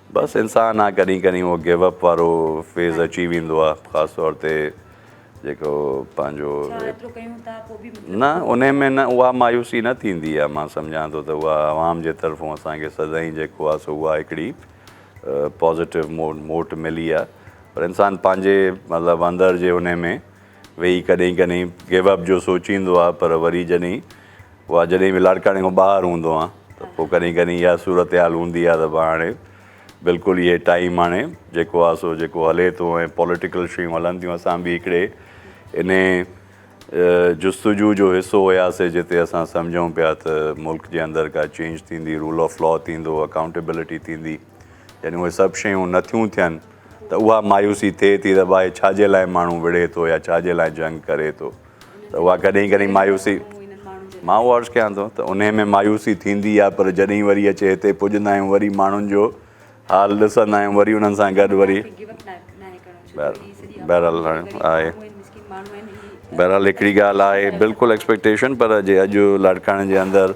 بس انسان آ ڪڏهن ڪڏهن اهو گيو اپ وارو فيز اچي ويندو آ خاص طور تي جيڪو پنهنجو نه ان ۾ نه اها مايوسي نه ٿيندي آ مان سمجهان ٿو ته اها عوام جي طرفون اسان کي سدائين جيڪو آ سو اها هڪڙي پازيٽو موٽ ملي آ پر انسان پنهنجي مطلب اندر جي ان ۾ ويهي ڪڏهن ڪڏهن گيو اپ جو سوچيندو آهي پر وري جڏهن اها جڏهن به لاڙڪاڻي کان ٻاهر هوندو آهيان ته پوء ڪڏهن ڪڏهن اها صورتحال هوندي آهي ته بس هاڻي بلڪل اهي ٽائيم هاڻي جيڪو آهي سو جيڪو هلي ٿو ۽ پوليٽيڪل شيون هلن ٿيون اسان به هڪڙي ان جستجو جو حصو هياسي جتي اسان سمجهون پيا ته ملڪ جي اندر ڪا چينج ٿيندي رول آف لا ٿيندو اڪائونٽيبلٽي ٿيندي يعني اهي سڀ شيون نٿيون ٿين ته اها مايوسي ٿئي ٿي ته باهه ڇاجي لاء ماڻهو وڙهي ٿو يا ڇاجي لاء جنگ ڪري ٿو ته اها ڪڏهن ڪڏهن مايوسي مان اهو عرض ڪيان ٿو ته انهي ۾ مايوسي ٿيندي آهي پر جڏهن وري اچي هتي پڄندا آهيون وري ماڻهن جو حال ڏسندا آهيون وري انهن سان گڏ وري بهرحال آهي بهرحال هڪڙي ڳالهه آهي بلڪل ايڪسپيڪٽيشن پر جي اڄ لاڙڪاڻي جي اندر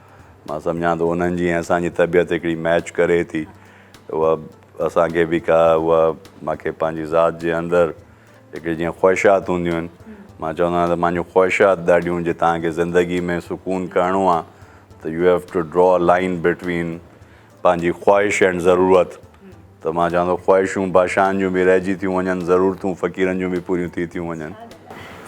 مان سمجهان ٿو انهن جي ۽ اسان جي طبيعت هڪڙي ميچ ڪري ٿي اها اسان کي به ڪا اها مان کي پنهنجي ذات جي اندر هڪڙي جيئن خواهشات هونديون آهن مان چوندو آهيان ته مانجو خواهشات ڏاڍيون جي تهان کي زندگي ۾ سڪون ڪرڻو آهي ته you have to draw a line between پنهنجي خواهش ۽ ضرورت ته مان چوان ٿو خواهشون بادشاهن جون به رهجي ٿيون وڃن ضرورتون فقيرن جون به پوريون ٿي ٿيون وڃن.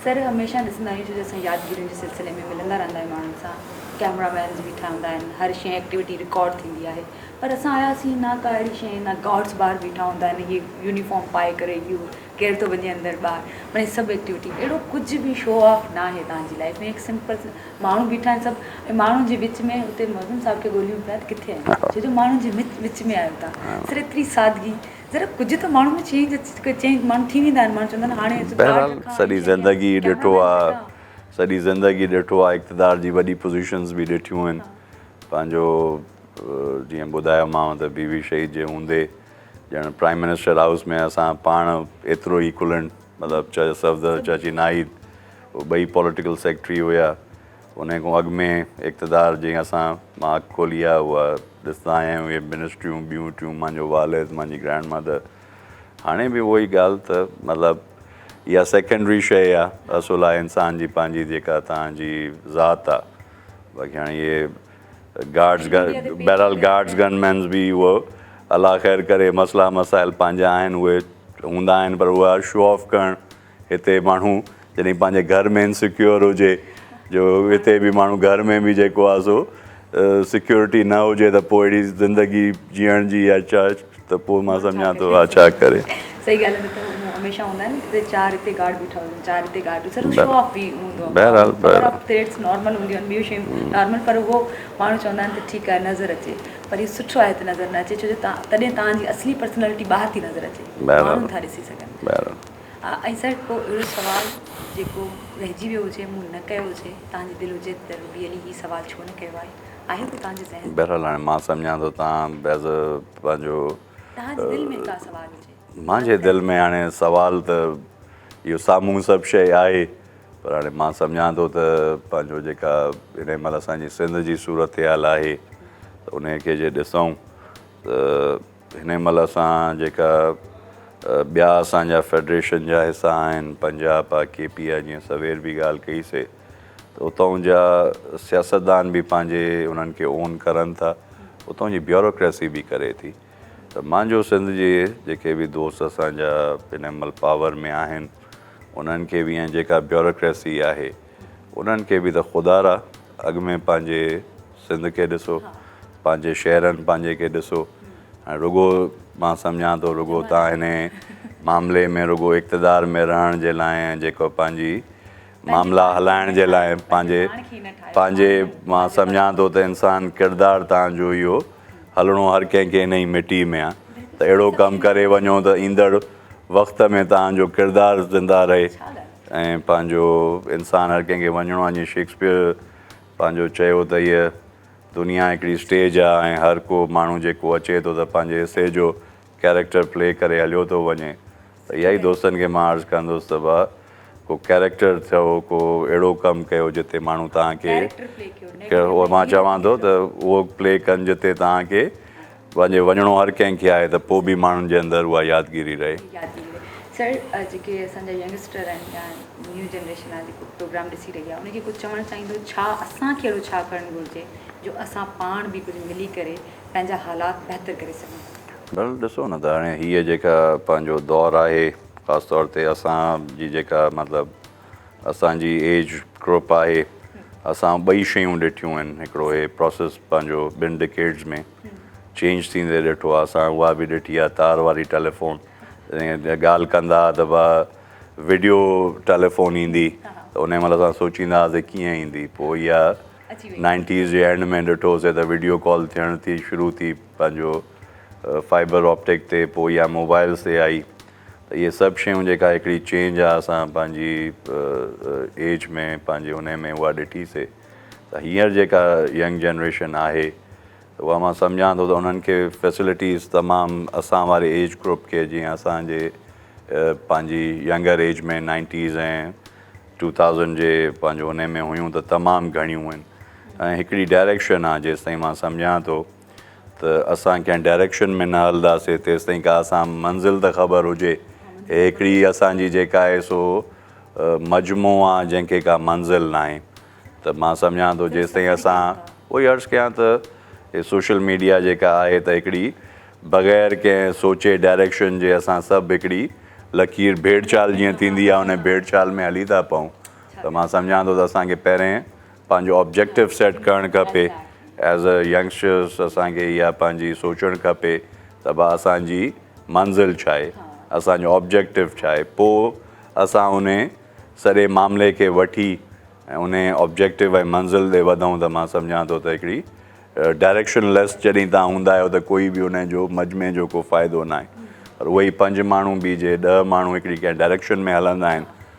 سر هميشه ڏسندا آهيون جو اسان يادگيرين جي سلسلي ۾ ملندا رهندا آهيون ماڻهن سان ڪيمرا مينز بيٺا هوندا آهن هر شيء ايڪٽيوٽي رڪارڊ ٿيندي آهي پر اسان آياسين نه ڪا اهڙي شيء نه گارڊز ٻاهر بيٺا هوندا آهن اهي يونيفارم پائي ڪري اهو ڪير ٿو وڃي اندر ٻاهر معني هي سڀ ايڪٽيوٽي اهڙو ڪجهه به شو آف نه آهي تهان جي لائف ۾ هڪ سمپل ماڻهو بيٺا آهن سڀ ۽ ماڻهن جي وچ ۾ اتي معظم صاحب کي ڳوليون پيا ته ڪٿي آهن ڇو جو ماڻهن جي وچ ۾ آهيو تهان سر ايتري سادگي ذرا ڪجهه ته ماڻهو ۾ چينج اچي چينج ماڻهو ٿي ويندا آهن ماڻهو چوندا آهن هاڻي بهرحال سڄي زندگي ڏٺو آهي سڄي زندگي ڏٺو آهي اقتدار جي وڏي پوزيشنز به ڏٺيون آهن پنهنجو جيئن ٻڌايومانو ته بي بي شهيد جي هوندي ڄڻ پرائيم منسٽر هائوس ۾ اسان پاڻ ايترو ئي کلڻ مطلب چاچا صفدر چاچي ناهيد اهي ٻئي پوليٽيڪل سيڪريٽري هيا انهي کان اڳ ۾ اقتدار جي اسان مان اک کولي آ اها ڏسندا آيا آهيون اهي منسٽريون ٻيون ٽيون مانجو والد مانجي گرينڊ مدر هاڻي به اهو ئي ڳالهه ته مطلب اها سيڪنڊري شيء آ اصل آ انسان جي پنهنجي جيڪا توهان جي ذات آ باقي هاڻي اهي بهرحال گارڊز گن مينز به هو الله خير ڪري مسئلا مسائل پنهنجا آهن اهي هوندا آهن پر اها شو آف ڪرڻ هتي ماڻهو جڏهن پنهنجي گهر ۾ انسيڪيور هجي جو هتي به ماڻهو گهر ۾ به جيڪو آهي سو سيڪيورٽي نه هجي ته پوء اهڙي زندگي جيئڻ جي يا ته پوء مان سمجهان ٿو اها ڇا ڪري. صحيح ڳالهه نه ته هو مون هميشه هوندا آهن ته چار هتي گارڊ بيٺا هجن چار هتي گارڊ بيٺا هجن شو آف به هوندو آهي بهرحال بهرحال ٿريٽس نارمل هونديون آهن ٻيون شيون نارمل پر هو ماڻهو چوندا آهن ته ٺيڪ آهي نظر اچي پر هي سٺو آهي ته نظر نه اچي ڇو جو تڏهن توهان جي اصلي پرسنالٽي ٻاهر ٿي نظر اچي ماڻهو ٿا ڏسي سگهن بهرحال ۽ سر ڪو اهڙو سوال جيڪو رهجي ويو هجي مون نه ڪيو هجي توهان جي دل هجي ته روبي علي هي سوال ڇو نه ڪيو آهي آهي ته تنهنجي ذهن. بهرحال هاڻي مان سمجهان ٿو تان محض پنهنجو. تنهنجي دل ۾ ڪا سوال هجي. مانجي دل ۾ هاڻي سوال ته اهو سامهون سڀ شيء آهي پر هاڻي مان سمجهان ٿو ته پنهنجو جيڪا انهي مهل اسان جي سنڌ جي صورتحال آهي ته انهي کي جي ڏسون ته. هن مهل اسان جيڪا ٻيا اسان جا فيڊريشن جا حصا آهن پنجاب پا ڪي پي آء جيئن سوير به ڳالهه ڪئي سي ته اتئون جا سياستدان به پنهنجي انهن کي اون ڪرن ٿا اتئون جي بيوروڪريسي به ڪري ٿي ته مانجو سنڌ جي جيڪي به دوست اسان جا هن مهل پاور ۾ آهن انهن کي به ۽ جيڪا بيوروڪريسي آهي انهن کي به ته خدا را اڳ ۾ پنهنجي سنڌ کي ڏسو پنهنجي شهرن پنهنجي کي ڏسو هاڻي رڳو مان سمجهان ٿو رڳو تان هني معاملي ۾ رڳو اقتدار ۾ رهڻ جي لاء ۽ جيڪو پنهنجي معاملا هلائڻ جي لاء پنهنجي پنهنجي مان سمجهان ٿو ته انسان ڪردار تان جو اهو هلڻو هر ڪنهن کي انهي مٽي ۾ آهي ته اهڙو ڪم ڪري وڃو ته ايندڙ وقت ۾ تان جو ڪردار زنده رهي ۽ پنهنجو انسان هر ڪنهن کي وڃڻو آهي جيئن شيڪسپيئر پنهنجو چيو ته هيء دنيا هڪڙي اسٽيج آهي ۽ هر ڪو ماڻهو جيڪو اچي ٿو ته پنهنجي حصي جو ڪيريڪٽر پلي ڪري هليو ٿو وڃي ته اها ئي دوستن کي مان عرض ڪندس ته ڀاء ڪو ڪيريڪٽر ٿيو ڪو اهڙو ڪم ڪيو جتي ماڻهو توهان کي ڪيريڪٽر پلي ڪيو مان چوان ٿو ته اهو پلي ڪن جتي توهان کي واهه جي وڃڻو هر ڪنهن کي آهي ته پوء به ماڻهن جي اندر اها يادگيري رهي. سر جيڪي اسان جا ينگسٽر آهن يا نيو جنريشن آهي جيڪو پروگرام ڏسي رهي آهي ان کي ڪجهه چوڻ چاهيندو ڇا اسان کي اهڙو ڇا ڪرڻ گهرجي جو اسان پاڻ به ڪجهه ملي ڪري پنهنجا حالات بهتر ڪري سگهون. ڀل ڏسو نه ته هاڻي هيء جيڪا پنهنجو دور آهي خاص طور تي اسان جي جيڪا مطلب اسان جي ايج گروپ آهي اسان ٻئي شيون ڏٺيون آهن هڪڙو هي پروسيس پنهنجو ٻن ڊڪيڊز ۾ چينج ٿيندي ڏٺو آهي اسان اها به ڏٺي آهي تار واري ٽيليفون ڳالهه ڪندا هئا ته با ويڊيو ٽيليفون ايندي ته ان مهل اسان سوچيندا هئاسي ڪيئن ايندي پوء اها نائنٽيز جي اينڊ ۾ ڏٺوسي ته ويڊيو ڪال ٿيڻ ٿي شروع ٿي پنهنجو فائبر آپٽڪ تي پوء اها موبائلز تي آئي ته اهي سڀ شيون جيڪا هڪڙي چينج آ اسان پنهنجي ايج ۾ پنهنجي انهي ۾ اها ڏٺي سي ته هينئر جيڪا ينگ جنريشن آهي ته اها مان سمجهان ٿو ته انهن کي فيسلٽيز تمام اسان واري ايج گروپ کي جيئن اسان جي پنهنجي younger age ۾ nineties ۽ two thousand جي پنهنجو انهي ۾ هيون ته تمام گهڻيون هين ۽ هڪڙي ڊائريڪشن آ جيستائين مان سمجهان ٿو ته اسان ڪنهن ڊائريڪشن ۾ نه هلنداسين تيستائين ڪا اسان منزل ته خبر هجي هي هڪڙي اسان جي جيڪا آهي سو مجموع آ جنهن کي ڪا منزل ناهي ته مان سمجهان ٿو جيستائين اسان اهو ئي عرض ڪيان ته هي سوشل ميڊيا جيڪا آهي ته هڪڙي بغير ڪنهن سوچي ڊائريڪشن جي اسان سڀ هڪڙي لڪير ڀيڙ چال جيئن ٿيندي آ انهي ڀيڙ چال ۾ هلي ٿا پئون ته مان سمجهان ٿو ته اسان کي پهرين پنهنجو آبجيڪٽو سيٽ ڪرڻ کپي ايز ا ينگسٽرس اسان کي اها پنهنجي سوچڻ کپي ته ڀا اسان جي منزل ڇا آهي اسانجو آبجيڪٽو ڇا آهي پوء اسان ان سڄي معاملي کي وٺي ان آبجيڪٽو ۽ منزل ڏي وڌون ته مان سمجهان ٿو ته هڪڙي ڊائريڪشن ليس جڏهن تان هوندا آهيو ته ڪوئي به ان جو مجمي جو ڪو فائدو ناهي پر اهي پنج ماڻهو به جي ڏهه ماڻهو هڪڙي ڪنهن ڊائريڪشن ۾ هلندا آهن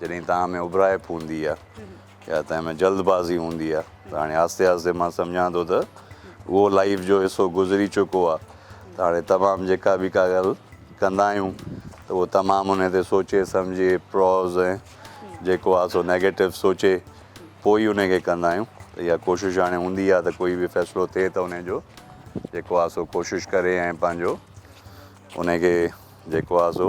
جڏهن تنهن ۾ اٻهرائپ هوندي آ يا تنهن ۾ جلد بازي هوندي آ ته هاڻي آهستي آهستي مان سمجهان ٿو ته اهو لائيف جو حصو گذري چڪو آ ته هاڻي تمام جيڪا به ڪا ڳالهه ڪندا آهيون ته اهو تمام انهي تي سوچي سمجهي پروز ۽ جيڪو آ سو نيگيٽو سوچي پوء ئي انهي کي ڪندا آهيون ته اها ڪوشش هاڻي هوندي آ ته ڪوئي به فيصلو ٿئي ته انهي جو جيڪو آ سو ڪوشش ڪري ۽ پنهنجو انهي کي جيڪو آ سو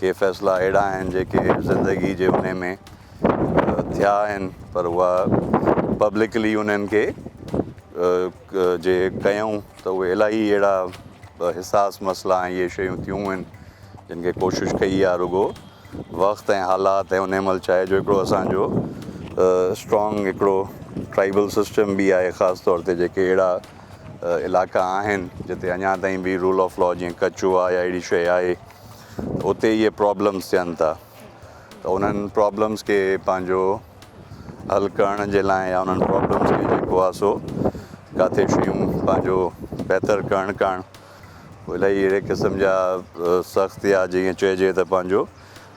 ڪي فيصلا اهڙا آهن جيڪي زندگي جي انهي ۾ ٿيا آهن پر اها پبلڪلي انهن کي جي ڪيائون ته اهي الاهي اهڙا حساس مسئلا ۽ اهي شيون ٿيون آهن جن کي ڪوشش ڪئي آهي رڳو وقت ۽ حالات ۽ انهي مهل چاهي جو هڪڙو اسان جو اسٽرانگ هڪڙو ٽرائبل سسٽم به آهي خاص طور تي جيڪي اهڙا علائقا آهن جتي اڃا تائين به رول آف لا جيئن ڪچ هئا يا اهڙي شيء آهي اتي اهي پرابلمز ٿين ٿا ته انهن پرابلمز کي پنهنجو حل ڪرڻ جي لاء يا انهن پرابلمز کي جيڪو آهي سو ڪاٿي شيون پنهنجو بهتر ڪرڻ ڪاڻ الائي اهڙي قسم جا سخت يا جيئن چئجي ته پنهنجو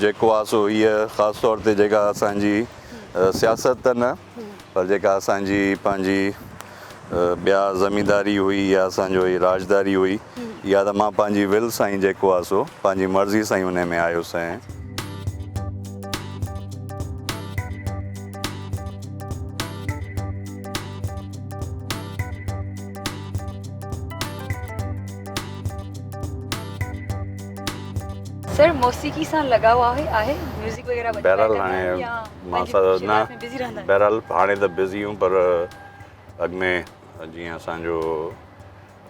جيڪو آ سو هيء خاص طور تي جيڪا اسان جي سياست ته نه پر جيڪا اسان جي پنهنجي ٻيا زمينداري هئي يا اسان جو هي راڄداري هئي اها ته مان پنهنجي ول سان ئي جيڪو آ سو پنهنجي مرضي سان ئي انهي ۾ آيس ۽. سر موسيقي سان لڳاء آهي آهي ميوزڪ وغيره وڄائي بهرحال ڪندا هاڻي آهيو يا مان پنهنجي سا سوشل نه لائيف ۾ بزي رهندا آهيو بهرحال هاڻي ته بزي آهيون پر اڳ ۾ جيئن اسان جو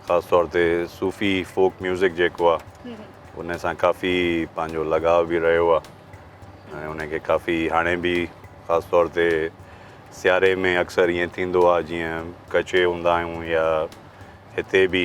خاص طور تي صوفي فوڪ ميوزڪ جيڪو آهي هم هم. ان سان ڪافي پنهنجو لڳاء به رهيو آهي ۽ ان کي ڪافي هاڻي به خاص طور تي سياري ۾ اڪثر ائين ٿيندو آهي جيئن ڪچي هوندا آهيون يا هتي به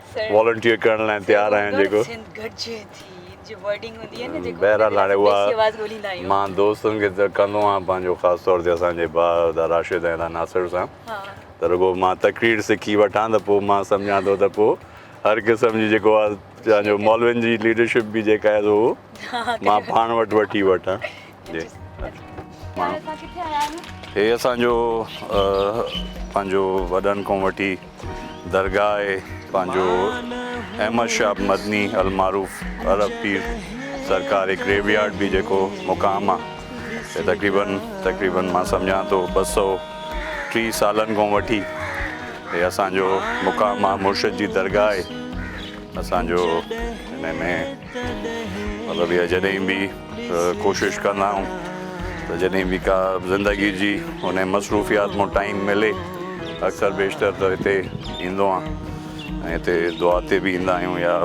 والنٽيئر ڪرڻ لاء تيار آهيان جيڪو بهرحال هاڻي اها مان دوستن کي ته ڪندو آهيان پنهنجو خاص طور تي اسان جي ڀاء ادا راشد ۽ ادا ناصر سان ته رڳو مان تقرير سکي وٺان ته پوء مان سمجهان ٿو ته پوء هر قسم جي جيڪو آهي مولوين جي ليڊرشپ به جيڪا آهي سو مان پاڻ وٽ وٺي وٺان هي اسان جو پنهنجو وڏن کان وٺي درگاهه آهي پنهنجو احمد شاهه مدني المعروف عرب پير سرڪار هڪ گريو يارڊ به جيڪو مقام آهي تقريبن تقريبن مان سمجھان ٿو ٻه سو ٽي سالن کان وٺي هي اسان جو مقام آهي مرشد جي درگاهه آهي اسان جو هن ۾ مطلب اهي جڏهن به ڪوشش ڪندا آهيون ته جڏهن به ڪا زندگي جي ان مصروفيات مون ٽائيم ملي اڪثر بيشتر ته هتي ايندو آهيان ۽ هتي دعا تي به ايندا آهيون يا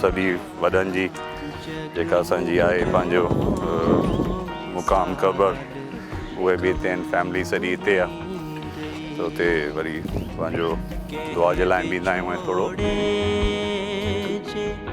سڀي وڏن جي جيڪا اسان جي آهي پنهنجو مقام قبر اهي به هتي آهن فيملي سڄي هتي آهي ته هتي وري پنهنجو دعا جي لاء به ايندا آهيون ۽ ٿورو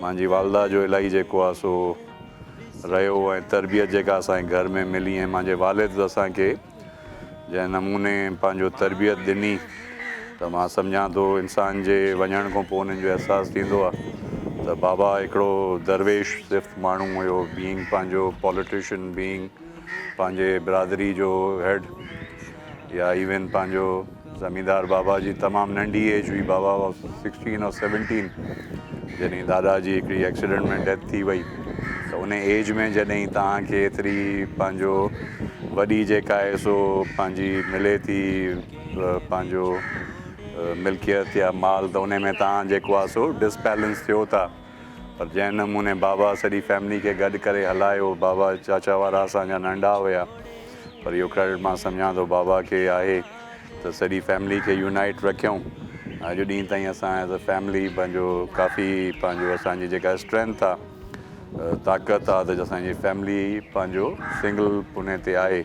مانجي والده جو الائي جيڪو آ سو رهيو ۽ تربيت جيڪا اسان کي گهر ۾ ملي ۽ مانجي والد اسان کي جنهن نموني پنهنجو تربيت ڏني ته مان سمجهان ٿو انسان جي وڃڻ کان پوء انهن جو احساس ٿيندو آ ته بابا هڪڙو درويش صفت ماڻهو هيو بينگ پنهنجو پوليٽيشن بينگ پنهنجي برادري جو هيڊ يا ايون پنهنجو زميندار بابا جي تمام ننڍي ايج هئي بابا واز سڪسٽين اور سيونٽين جڏهن دادا جي هڪڙي ايڪسيڊنٽ ۾ ڊيٿ ٿي وئي ته ان ايج ۾ جڏهن توهان کي ايتري پنهنجو وڏي جيڪا آهي سو پنهنجي ملي ٿي پنهنجو ملڪيت يا مال ته ان ۾ توهان جيڪو آهي سو ڊسبيلنس ٿيو ٿا پر جنهن نموني بابا سڄي فيملي کي گڏ ڪري هلايو بابا چاچا وارا اسان جا ننڍا هيا پر اهو ڪريڊٽ مان سمجهان ٿو بابا کي آهي ته سڄي فيملي کي يونائيٽ رکيون اڄ ڏينهن تائين اسان ايز ا فيملي پنهنجو ڪافي پنهنجو اسانجي جيڪا اسٽرينٿ آ طاقت آ ته اسانجي فيملي پنهنجو سنگل پني تي آهي.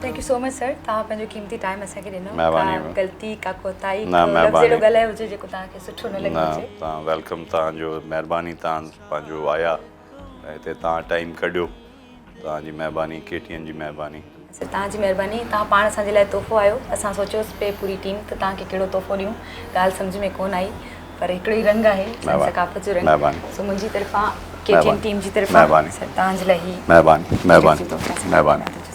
Thank you so much sir توهان پنهنجو قيمتي ٽائيم اسان کي ڏنو مهرباني ڪا غلطي ڪا ڪوتاهي ڪو لفظ اهڙو ڳالهايو هجي جيڪو توهان کي سٺو نه لڳو هجي نه توهان ويلڪم توهان جو مهرباني توهان پنهنجو آيا ۽ هتي توهان ٽائيم ڪڍيو توهان جي مهرباني ڪي ٽي اين جي مهرباني سر توهان جي مهرباني توهان پاڻ اسان جي لاء تحفو آهيو اسان سوچيوسي پئي پوري ٽيم ته توهان کي ڪهڙو تحفو ڏيون ڳالهه سمجهه ۾ ڪونه آئي پر هڪڙو ئي رنگ آهي سائين ثقافت جو رنگ سو منهنجي طرفان ڪي ٽي اين ٽيم جي طرفان سر توهان جي لاء هي مهرباني مهرباني مهرباني